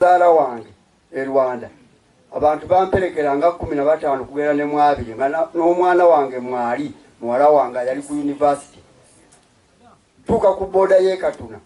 Mukyala wange e Rwanda abantu bamperekera nga kumi na bataano kugera ne mwabiri nga n'omwana wange mwali muwala wange yali ku yunivasite tuuka ku booda y'ekatuna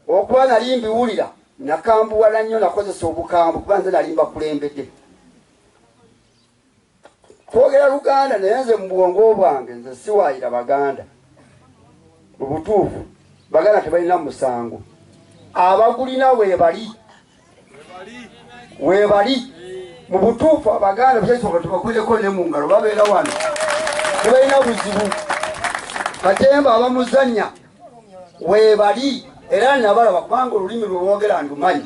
okuba nali mbiwulira nakambuwala nnyo nakozesa obukambwe kuba nze nali mbakulembedde Twogera luganda naye nze mubwongo bwange nze siwaayira baganda. Mubutuufu baganda tebalina musango. Abagulina webali. Webali. Mubutuufu abaganda byesoboka tubakuleko ne mungalo babeera wano. Tebalina buzibu. Katemba abamuzanya webali. Era nabalaba kubanga olulimi lwewogera ndumanyi.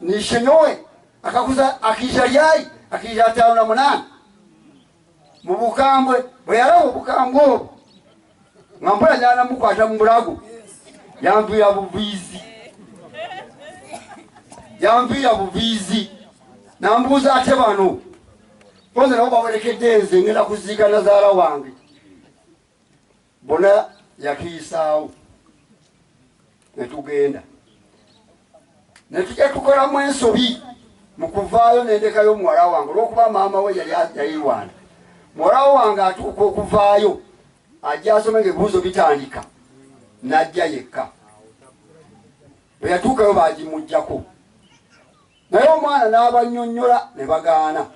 nishenyowe akakuza akija lyayi akija ataano na munaana mu bukambwe bwe yalaba obukambwe obwo nga mpola nyana mukwata mu bulago yanviira buviizi yanviira buviizi nambuuza ate bano bonze nabo bawerekedde nze ngenda kuziika nazaala wange Bona yatuyisaawo ne tugenda ne tujja tukolamu ensobi mu kuvaayo nendekayo muwala wange olwokuba maama we yali Rwanda. Muwala wange atuuka okuvaayo ajja asome ngaebibuuzo bitandika n'ajja yekka. Bwe yatuukayo baagimuggyako naye omwana n'abannyonnyola ne bagaana.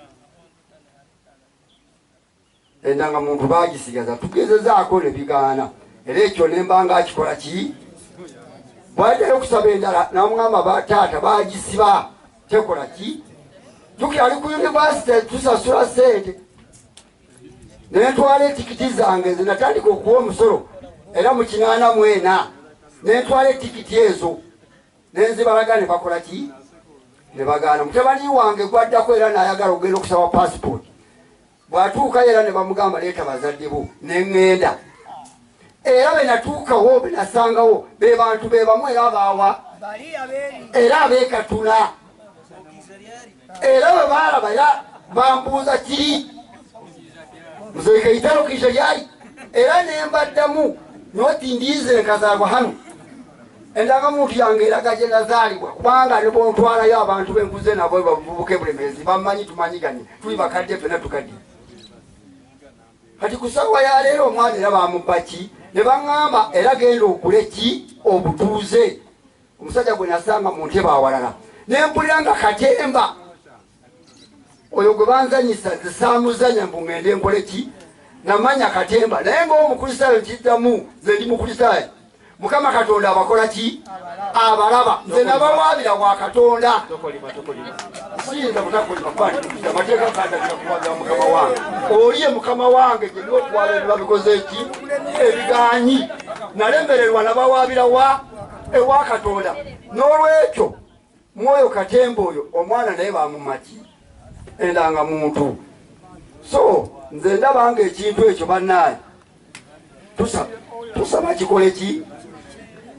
Endangamuntu baagisigaza tugezezaako ne bigaana era ekyo ne mba nga akikola ki bw'addayo okusaba endala namugamba ba taata baagisiba tekola ki jukira ali ku yunivasite tusasula sente nentwala etikiti zange nze natandika okuwa omusolo era mu kinaana mwena nentwala etikiti ezo nenzibalaga ne bakola ki ne bagaana mutabani wange gwaddako era nayagala okugenda okusaba pasipooti bwatuukayo era ne bamugamba leeta bazadde bo ne ŋŋenda era be natuukawo be nasangawo be bantu be bamu era abaawa era abeekatula era bwe baalaba era bambuuza kiri nze kaitalo kiija lyali era ne mbaddamu noti ndiize enkazaagwa hano endagamuntu yange eraga gye nazaalibwa kubanga ne bontwalayo abantu benkuze nabo bavubuka ebulemeezi bammanyi tumanyiganye tuli bakadde fena tukadde kati ku ssaawa ya leero omwana era bamubba ki ne baŋŋamba era genda okule ki obutuuze Omusajja gwe nasanga mu ntebe awalala ne mpulira nga katemba oyo gwe banzanyisa zisaamuzanya mbu ngende nkole ki namanya katemba naye ngaomukristaayo nkiddamu nze ndi mukristaayo mukama katonda abakola ki abalaba nze nabawaabira wa katonda siyinza butakolibamateeka kandagila kuwaabira mukama wange oliye mukama wange gyeni okuwaabira nebabikoze ki ebiganyi nalemererwa nabawaabira wa ewa katonda n'olwekyo mwoyo katemba oyo omwana naye bamumaki endanga muntu so nze ndaba nga ekintu ekyo banaye tusaba kikole ki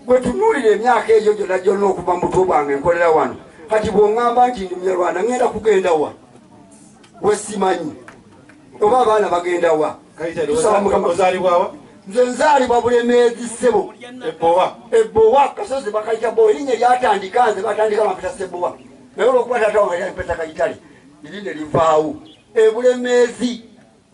gwetunuulira emyaka egyo gyona gyonna okuva mu butwe bwange nkolera wano kati bwongamba nti ndi munyarwanda ngenda kugenda wa wesimanyi oba abaana bagenda wa tusaba mukama ozalibwawa nze nzaalibwa bulemeezi ssebo ebowa ebowa kasozi bakayita bowa erinnya lyatandika nze batandika bampita sebowa naye olwokuba taata wange yampeta kayitale liri ne livaawo ebulemeezi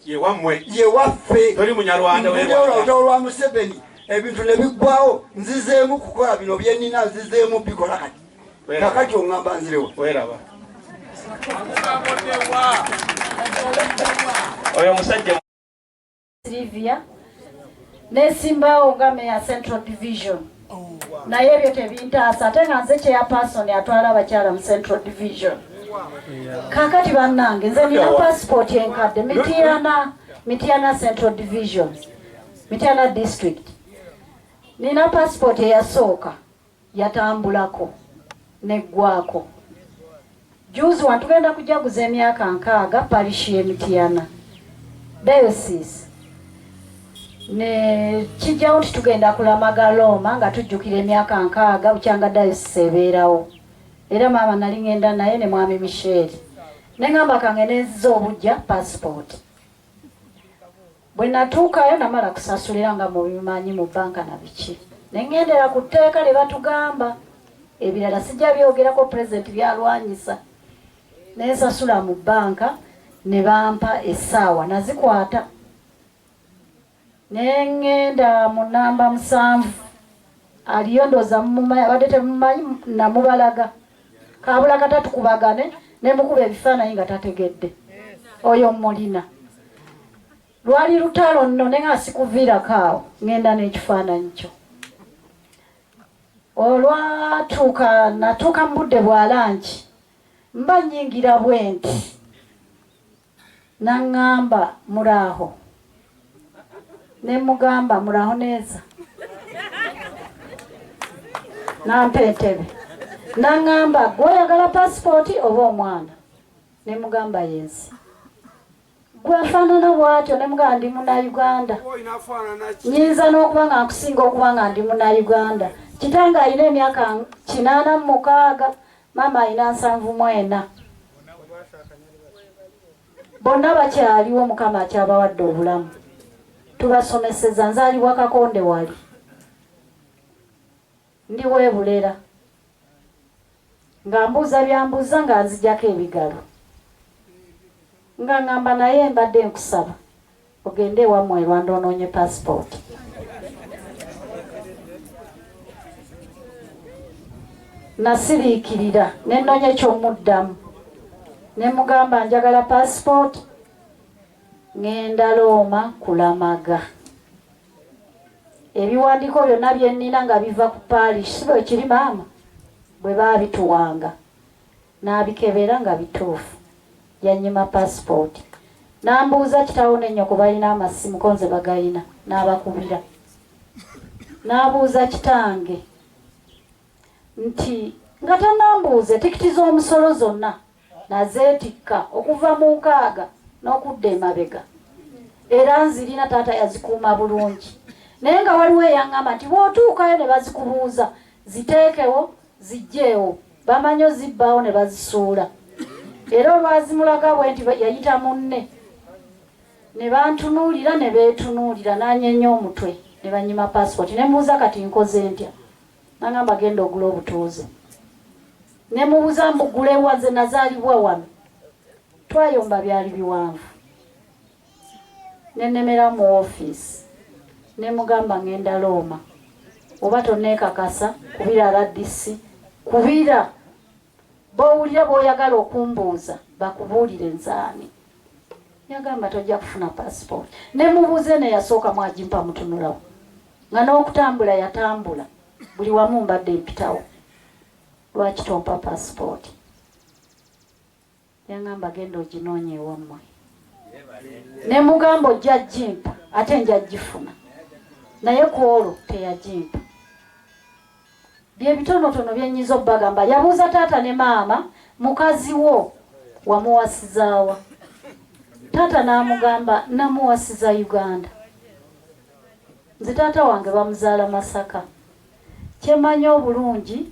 yewammwe yewaffe toli munyarwanda olutalo lwa museveni ebintu ne biggwawo nzizeemu kukola bino byenina nzizeemu bikola kati kakati ongamba nzirewa weraba oyo musajja silivia nesimbaawo nga meya central division naye ebyo tebintaasa ate nga nze chairperson atwala abakyala mu central division kakati bannange nze nina pasipooti enkadde mitiana mitiana central division mitiana district nina pasipooti eyasooka yatambulako neggwaako jjuuzi wano tugenda kujaguza emyaka nkaaga parish ye Mityana diocese ne kijjawo nti tugenda kulamaga Looma nga tujjukira emyaka nkaaga bukyanga diocese ebeerawo era maama nali ngenda naye ne mwami Michelle ne ngamba kange nenziza obujja passport Bwe natuukayo namala kusasulira nga mubimanyi mu banka na biki ne ŋŋendera ku tteeka lye batugamba, ebirala sijja byogerako, Pulezidenti by'alwanyisa, ne nsasula mu banka ne bampa essaawa nazikwata ne ŋŋenda mu nnamba musanvu Aliyo ndoza mumumanyi abadde temumanyi namubalaga kabula kata tukubagane nemukuba ebifaananyi nga tategedde oyo mulina lwali lutalo nno ne nga sikuviirako awo ngenda n'ekifaananyi kyo olwatuuka natuuka mu budde bwa langi mba nyingira bwenti Nangamba muraho nemugamba muraho neza nampa entebe nangamba gwe oyagala passport oba omwana nemugamba yensi gwafaanana bwatyo ne mugamba ndi muna uganda nyinza n'okuba nga nkusinga okuba nga ndi muna uganda kitange alina emyaka kinaana mu mukaaga Maama alina nsanvu mu ena. Bonna bakyaliwo mukama akyabawadde obulamu. Tubasomeseza nzalibwa kakonde wali. Ndi webulera. Nga mbuuza byambuuza nga nzijako ebigalo. Nga ngamba naye mbadde nkusaba. Ogende ewamwe erwanda ononye passport. Nasiriikirira ne nonya ekyomuddamu ne mugamba njagala passport ngenda Looma kulamaga ebiwandiiko byonna bye nnina nga biva ku paalish si bwe kiri maama bwe baabituwanga Nabikebera nga bituufu. Yannyima paasipooti. Nambuuza kitaawo ne nnyoko balina amasimu ko nze bagalina. Nabakubira. Nabuuza kitange nti nga tanambuuze tikiti z'omusolo zonna nazeetikka okuva mu nkaaga n'okudda emabega era nzirina taata yazikuuma bulungi naye nga waliwo eyangamba nti bwotuukayo ne bazikubuuza ziteekewo Ziggyeewo. Bamanyi ozibbaawo ne bazisuula era olwazimulaga bwenti yayita munne ne bantunuulira ne beetunuulira n'anyeenya omutwe ne bannyima paasipooti ne mmubuuza kati nkoze ntya n'angamba genda ogule obutuuze ne mubuuza mbugulewa nze nazaalibwa wano twayomba byali biwanvu nenemera mu wofiisi nemugamba ngenda looma oba tonekakasa kubira rdc kubira bowulira boyagala okumbuuza bakubuulire nzaani yagamba tojja kufuna pasipooti nemubuuze neyasooka mwagimpa mutunulawo nga n'okutambula yatambula buli wamu mbadde mpitawo lwaki tompa pasipooti Yangamba genda oginoonya ewammwe. Ne mugamba ojja gimpa ate nja gifuna. Naye ku olwo teyagimpa. Bye bitonotono bye nnyinza okubagamba. Yabuuza taata ne maama, mukazi wo wamuwasizaawa? Taata n'amugamba namuwasiza Uganda. Nze taata wange bamuzaala Masaka. Kye mmanyi obulungi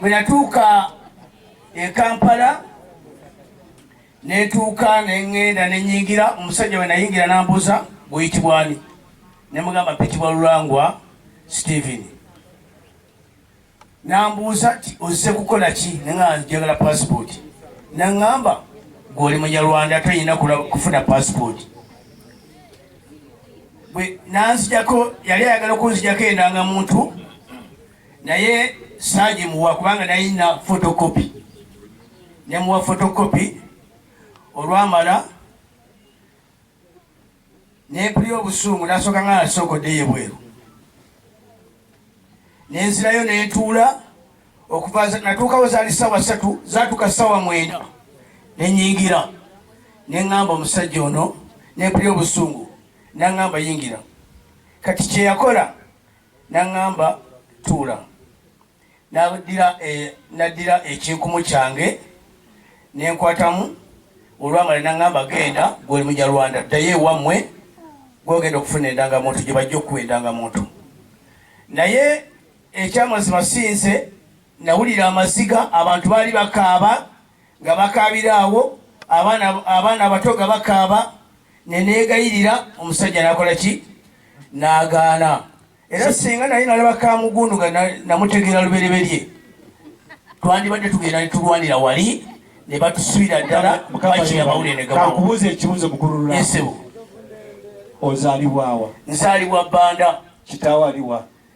bwe natuuka e kampala netuuka neŋŋenda nenyingira omusajja we nayingira nambuuza guyitibwani ne mugamba pitibwa lulangwa steven nambuuza ti ozze kukola ki nanga njagala pasipooti naŋŋamba gwoli munyarwanda toyina kufuna pasipooti nanzijako yali ayagala okunzijako endanga muntu naye saagimuwa kubanga nayina fotokopi nemuwa fotokopi olwamala nempulira obusungu nasooka nga nasookoddeyo ebweru nenzirayo nentuula okuva natuukawo zaali saawa satu zatuuka saawa mwenda nenyingira neŋŋamba omusajja ono nempulira obusungu naŋŋamba yingira kati kyeyakola N'aŋŋamba, Tuula. N'addira ekinkumu kyange ne nkwatamu, olwamala n'aŋŋamba, Genda, ggwe oli Munyarwanda, ddayo ewammwe gw'ogenda okufuna endangamuntu, gye bajja okukuwa endangamuntu. Naye ekyamazima si nze nawulira amaziga, abantu baali bakaaba nga bakaabira awo, abaana abato nga bakaaba. ne neegayirira omusajja nakola ki n'agaana era singa naye nalaba kamugunduga namutegeera lubereberye twandibadde tugenda netulwanira wali ne batusibira ddala bakiri amawulire negakubuuza ekibuuzo mukulululaesebo ozaalibwawa nzaalibwa bbanda kitaawo aliwa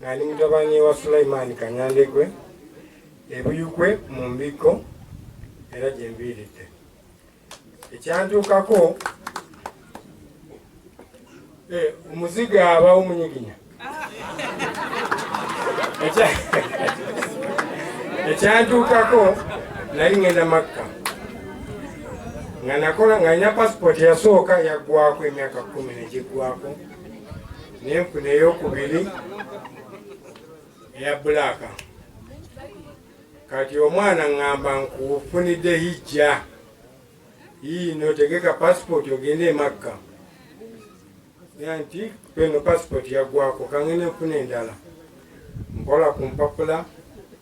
Nali mutabani wa Sulaiman Kanyandekwe ebuyukwe mu mbikko era gye mbiiridde ekyantuukako eh, omuziga abawo munyiginya ekyantuukako nali ngenda makka nga nakola nga nina pasipoti yasooka yaggwako emyaka kumi negiggwako nenfuna eyokubiri eya bulaaka kati omwana ŋŋamba nkufunidde hijja yiino tegeka pasipooti ogende emakka ya nti peno pasipooti yaggwako kangende nfuna endala nkola ku mpapula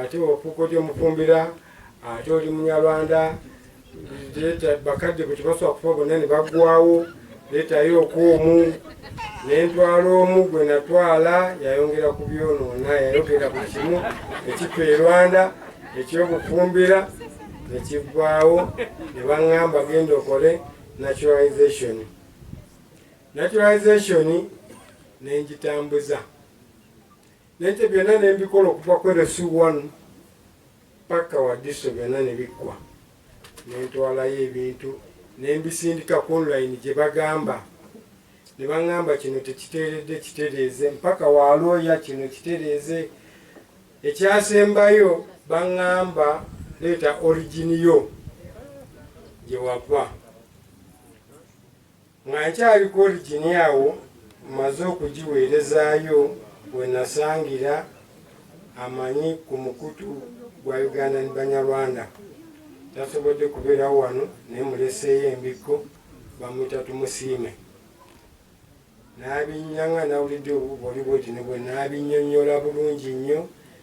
ate ofuuka otya omufumbira ate oli munyarwanda bakadde bwe tebasobola kufa bonna ne baggwawo leetayo okuomu nentwala omu gwe natwala yayongera ku byonoona yayogera buli kimu ekifa e rwanda ekyokufumbira nekiggwawo ne baŋŋamba genda okole naturalization naturalization nengitambuza Nete byonna ne mbikola okuva ku LC one paka Wadiso byonna ne biggwa. Ne ntwalayo ebintu ne mbisindika ku online gye bagamba ne baŋŋamba kino tekiteeredde kitereeze mpaka wa looya kino kitereeze. Ekyasembayo baŋŋamba leeta origin yo gye wava. Nga nkyali ku oligini awo mmaze okugiweerezaayo we nasangira amanyi ku mukutu gwa Ugandan Banyarwanda. Tasobodde kubeerawo wano naye muleseeyo embikko bamuyita Tumusiime. Nabinnyanga nawulidde obuboli bwoti ne bwe nabinnyonnyola bulungi nnyo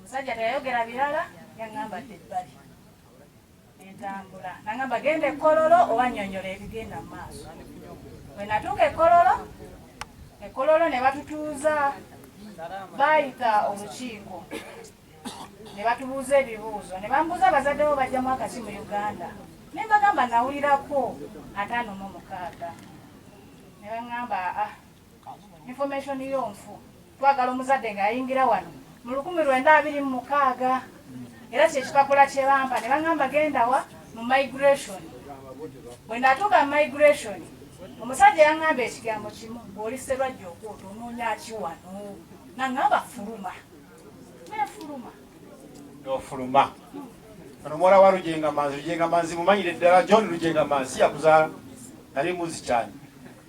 Musajja teyayogera birala yangamba dde ebbali entambula nangamba genda ekololo oba nyonyola ebigenda mu maaso bwe natuuka ekololo ekololo ne batutuuza baayita olukiiko ne batubuuza ebibuuzo ne bambuuza abazadde bo bajjamu akaki mu uganda ne mbagamba nawulirako ataano mu mukaaga ne baŋŋamba ah Information yo nfu. Twagala omuzadde nga yayingira wano mu lukumi lwenda abiri mu mukaaga era kyekipapula kye bampa ne bangamba genda wa mu migration. Bwe natuuka mu migration omusajja yangamba ekigambo kimu, bw'oli Sserwajja okuuta onoonya ki wano? Nangamba fuluma. nofuluma ono muwala wa lujenga manzi lujenga manzi mumanyire ddala john lujenga manzi yakuzaala nali muzi kyani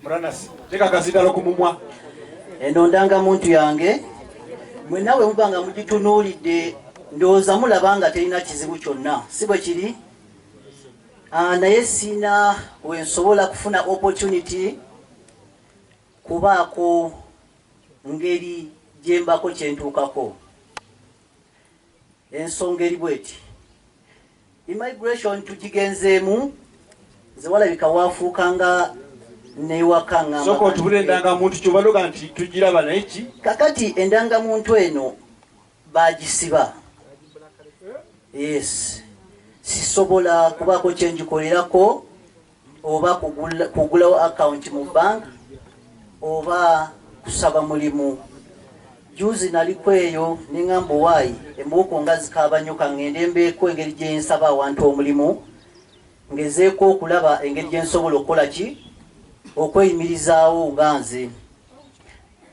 muranasi tekakazidala okumumwa eno ndanga muntu yange mwena we muba nga mugitunuulidde ndowooza mulaba nga terina kizibu kyonna si bwe kiri ah, naye siina wensobola kufuna opportunity kubaako ngeri gye mbaako kye ntuukako. Ensonga eri bw'eti, Immigration tugigenzeemu, nze walabika waafuuka nga n'ewaka ng'amba. Sooka otubule endangamuntu ky'oba noga nti tugiraba naye ki? Kakati endangamuntu eno baagisiba. Yes. Sisobola kubaako kye ngikolerako. oba kugulawo account mu bank oba kusaba mulimu juzi nali kweyo nengamba owayi embuuko nga zikaaba nnyo kangende mbeeko engeri gyensaba awantu omulimu ngezeeko okulaba engeri gyensobola okukola ki okweyimirizaawo nga nze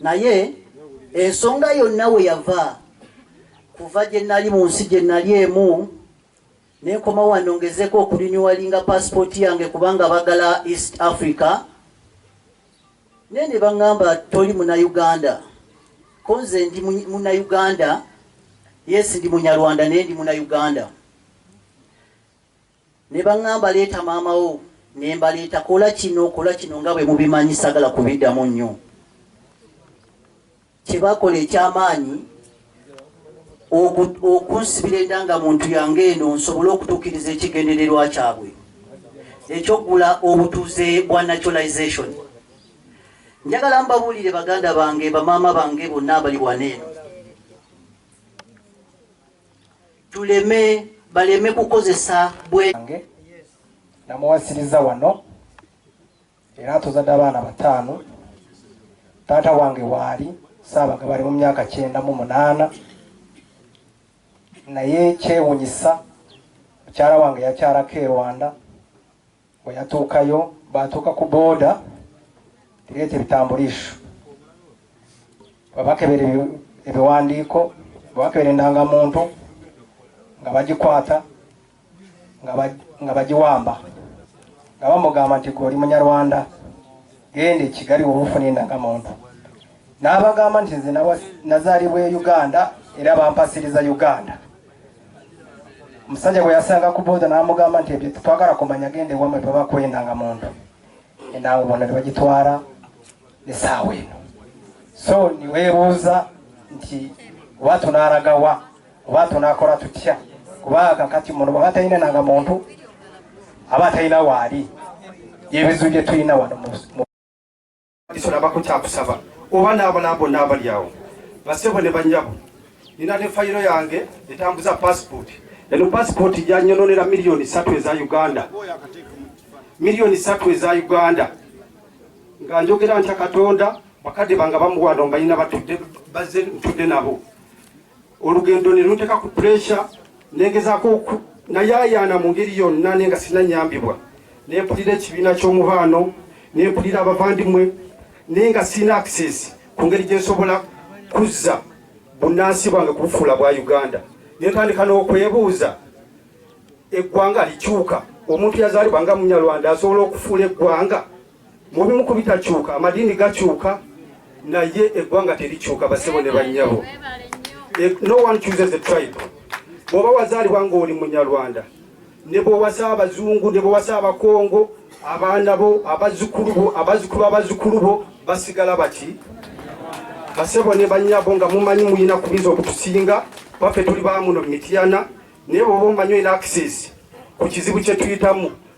naye ensonga yonna we yava kuva gye nali mu nsi gye nali emu nenkoma wano ngezeko okulinyuwalinga pasipooti yange kubanga bagala east africa naye ne baŋŋamba toli munauganda ko nze ndi munauganda yesi ndi munyarwanda naye ndi munauganda Ne bangamba leeta maama wo ne mbaleeta, kola kino, kola kino nga bwe mubimanyi sagala kubiddamu nnyo. Kye bakola eky'amaanyi oku, okunsibira enda nga muntu yange eno nsobole okutuukiriza ekigendererwa kyabwe eky'okugula obutuuze bwa naturalization. Njagala mbabuulire baganda bange, bamaama bange bonna abali wano eno. tuleme baleme kukozesa bwe nange namuwasiriza wano era atuzadde abaana bataano taata wange waali saabaga bali mu myaka kyenda mu munaana naye kyewunyisa mukyala wange yakyalako e rwanda Bwe yatuukayo, baatuuka ku booda ereeta ebitambuliisho. Bwe bakebera ebiwandiiko, bwe bakebera endangamuntu nga bagikwata nga bagiwamba nga bamugamba nti gwe oli munyarwanda genda ekigali wobufuna endangamuntu n'abagamba nti nze nazaalibwa e uganda era bampasiriza uganda Musajja bwe yasanga ku booda n'amugamba nti ebyo twagala kumanya genda ewamwe bwe bakwenda nga muntu enanga bona tebagitwala esaawa eno so niweebuuza nti oba tunaaragawa oba tunaakola tutya kuba kakati muno baba talina nanga muntu aba talina waali yebizibu bye tulina wano nabako kyakusaba oba n'abalala bonna abali awo basebo ne banyabo nina ne fayiro yange etambuza passport eno passport janyononera miliyoni satu eza uganda miliyoni satu eza uganda nga njogera ntya katonda bakadde banga bamuwano mbalina batudde bazze ntudde nabo olugendo ne lunteeka ku puresha negezaako nayaayaana mu ngeri yonna naye nga sinanyambibwa ne mpulira ekibiina ky'omubaano ne mpulira abavandimwe naye nga sirina access ku ngeri gye nsobola kuzza bunnansi bwange kubufuula bwa uganda ne ntandika n'okwebuuza eggwanga likyuka omuntu yazaalibwa nga munyarwanda asobola okufuula eggwanga Mu bimu ku bitakyuka, amadiini gakyuka naye eggwanga terikyuka, basebo ne bannyabo. Eh, no one chooses a tribe. Bw'oba wazaalibwa ng'oli Munyarwanda, ne bw'owasa Abazungu, ne bw'owasa Abakongo, abaana bo, abazzukulu bo, abazzukulu abazzukulu bo basigala bati basebo ne bannyabo nga mumanyi mulina kubinza okutusinga baffe tuli bamuno mu Mityana naye bwoba omanyi olina access ku kizibu kye tuyitamu